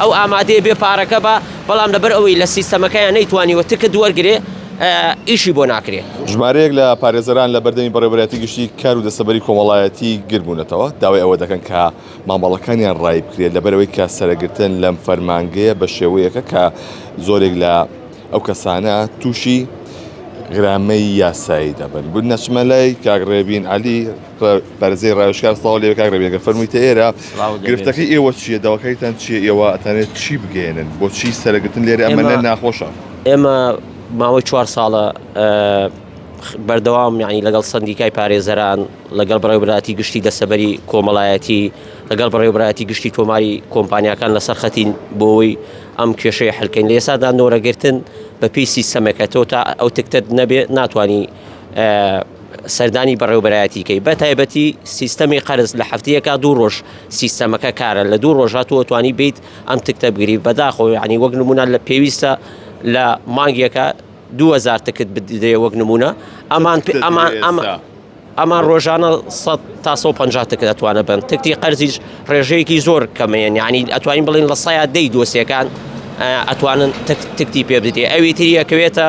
ئەو ئامادەیە بێ پارەکە با بەڵام لەبەر ئەوەی لە سیستەمەکەیان نەیتوانیوە تکت وەرگرێ ئیشی بۆ ناکرێ. ژمارەیەک لە پارێزەران لە بەردەمی بەڕێوەبەرایەتی گشتی کار و دەستەبەری کۆمەڵایەتی گرد بوونەتەوە، داوای ئەوە دەکەن کە مامەڵەکانیان ڕایی بکرێت، لەبەرئەوەی کە سەرەگرتن لەم فەرمانگەیە بە شێوەیەکە کە زۆرێک لە ئەو کەسانە تووشی غرامەی یاسایی دەبن. بنەچمە لای کاک ڕێبین عەلی. پارێزەری ڕاوێژکار سڵاو لێ کاک ڕەبی ئەگەر فەرموویتە ئێرە گرفتەکەی ئێوە چییە داواکاریتان چییە ئێوە ئەتانێت چی بگەێنن بۆچی سەرەگرتن لێرە ئەمەە ناخۆشە ئێمە ماوەی چوار ساڵە بەردەوام یعنی لەگەڵ سندیکای پارێزەران لەگەڵ بەڕێوبراتی گشتی دەسەبەری کۆمەڵایەتی لەگەڵ بەڕێوبراتی گشتی تۆماری کۆمپانیەکان لەسەر خەتین بۆەوەی ئەم کێشەی حلکەین لە ئێسادا نۆرەگرتن بەپی سیستەمەکە تۆ تا ئەو تکتت نەبێ ناتانی سەردانی بەڕێوبەرایەتی کەی بە تایبەتی سیستەمی قەرز لە هەفتەیەکە دوو ڕۆژ سیستەمەکە کارە لە دوو ڕۆژ هاتووە توانی بیت ئەم تکتە بگری بەداخۆ ینی وەک نمونە لە پێویستە لە مانگیەکە 2000 تکت بدرێ وەک نمونە ئەمان ئەمان ئەمە ئەمان ڕۆژانە 100 تا 150 تکت ئەتوانە بن تکتی قەرزیش ڕێژەیەکی زۆر کەمەیە ینی ئەتوانین بڵین لە سایە دەی دۆسیەکان ئەتوانن تکتی پێ بدرێ ئەوی تریەکەوێتە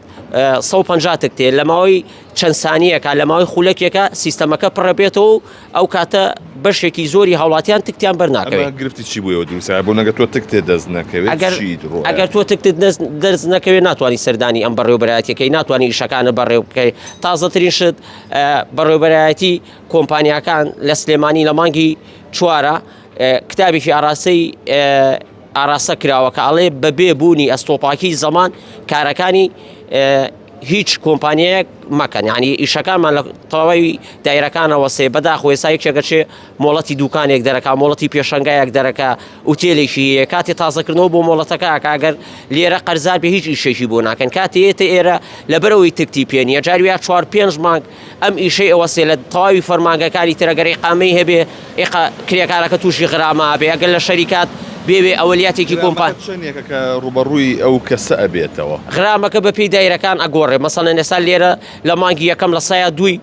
سەد و پەنجا تک تێ لە ماوەی چەند سانیەکە لە ماوەی خولەکێکە سیستەمەکە پڕە بێتەوە ئەو کاتە بەشێکی زۆری هاوڵاتیان تکتیان بەرناکەوێت گرفتی چی بووەوە دیسا بۆ نەگە تۆ تک تێ دەست نەکەوێت ئەگەر تۆ تک دەست نەکەوێت ناتوانانی سەردانی ئەم بەڕێوبەرایەتەکەی ناتوانانی ئیشەکانە بەڕێ بکەی تازەترین شت بەڕێوبەرایەتی کۆمپانیەکان لە سلێمانی لە مانگی چوارە کتابێکی ئاراستەی ئاراستە کراوە کە ئەڵێ بە بێ بوونی ئەستۆپاکی زەمان کارەکانی هیچ کۆمپانیایەک مەکەن ینی ئیشەکانمان لە تەواوی دایرەکانەوە سێ بەداخ وێسایەکێکەچێ مۆڵەتی دوکانێک دەرەکە مۆڵەتی پێشنگایەک دەرەکە وتێلێکی کاتی تازەکردنەوە بۆ مۆڵەتەکە کاگەر لێرە قەرزار بە هیچ ئیشێکی بۆ ناکەن کاتێتە ئێرە لەبەرەوەی تکتی پێنیە جارویا چوار پێنج مانگ ئەم ئیشەی ئەوەستێ لە تەواوی فەرمانگەکانی تر ئەگەر ئیقامەی هەبێ ئیقا کرێکارەکە تووشی غرامە ئەبێ ئەگەر لە شەریکات بێ وێ ئەوەلیاتێکی کۆمپا. غرامەکە چەنێکە کە ڕووبەڕووی ئەو کەسە ئەبێتەوە؟ غرامەکە بە پێی دایرەکان ئەگۆڕێ مەسەلەن ئێستا لێرە لە مانگی یەکەم لە سەیا دووی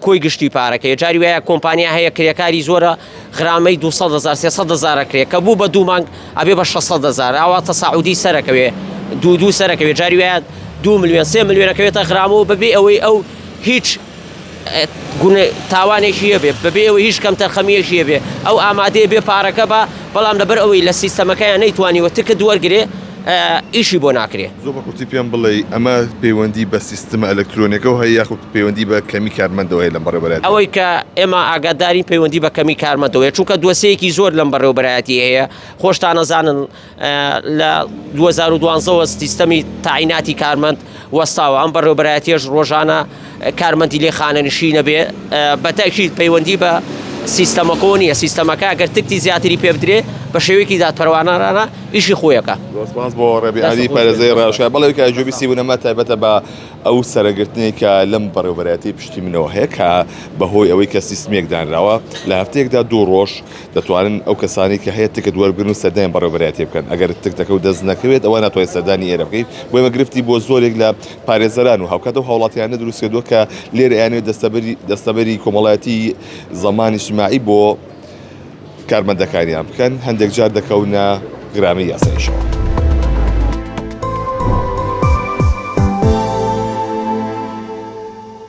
کۆی گشتی پارەکەیە جاری وایە کۆمپانیا هەیە کرێکاری زۆرە غرامەی دوو سەد هەزار سێ سەد هەزار ئەکرێ کە بوو بە دوو مانگ ئەبێ بە شەش سەد هەزار ئاوا تەساعودی سەرەکەوێ دوو دوو سەرەکەوێ جاری وایە دوو ملیۆن سێ ملیۆن ئەکەوێتە غرام و بەبێ ئەوەی ئەو هیچ گونە تاوانێکی هەبێ بەبێ ئەوەی هیچ کەمتەرخەمیەکی هەبێ ئەو ئامادەیە بێ پارەکە بە بەڵام لەبەر ئەوەی لە سیستەمەکەیان نەیتوانیوە تکت وەرگێ ئیشی بۆ ناکرێ. زۆر بە کورتی پێم بڵێی ئەمە پەیوەندی بە سیستمە ئەلەکترۆنیەکەو هەیە یاخود پەیوەندی بە کەمی کارمەندەوە هەیە لەم بەڕێوەبەرایەتیە؟ ئەوەی کە ئێمە ئاگادارین پەیوەندی بە کەمی کارمەندەوە هەیە چونکە دۆسێیەکی زۆر لەم بەڕێوەبەرایەتی هەیە خۆشتان ئەزانن لە دوو هەزار و دوازدە وە سیستەمی تاعیناتی کارمەند وەستاوە ئەم بەڕێوەبەرایەتیەش ڕۆژانە کارمەندی لێ خانەنشینە بێ بە تاکیید پەیوەندی بە سیستەمەکۆ نیە سیستەمەکە ئەگەر تکتی زیاتری پێ بدرێ بە شێوەیەکی دادپەروانانە ئیشی خۆیەکە سپاس بۆ ڕێبی ئاری پارێزەی ڕاشکا بەڵێ کە جوێبی سی بوونەما تایبەتە بە ئەو سەرەگرتنی کە لەم بەڕێوبەرایەتی پشتی منەوە هەیە کە بەهۆی ئەوەی کە سیستمێک دانراوە لە هەفتەیەکدا دوو ڕۆژ دەتوانن ئەو کەسانی کە هەیە تکت وەربگرن و سەردانی بەڕێوبەرایەتی بکەن ئەگەر تکتەکە و دەست نەکەوێت ئەوە ناتوانێت سەردانی ئێرە بکەیت بۆیمە گرفتی بۆ زۆرێک لە پارێزەران و هاوکات ئەو هاوڵاتیانە دروست کردووە کە لێرە ئەیانەوێت دەستەبەری دەستەبەری کۆمەڵایەتی زەمان اجتماعی بۆ کارمەندەکانیان بکەن هەندێک جار دەکەونە گرامەی یاسایشەوە.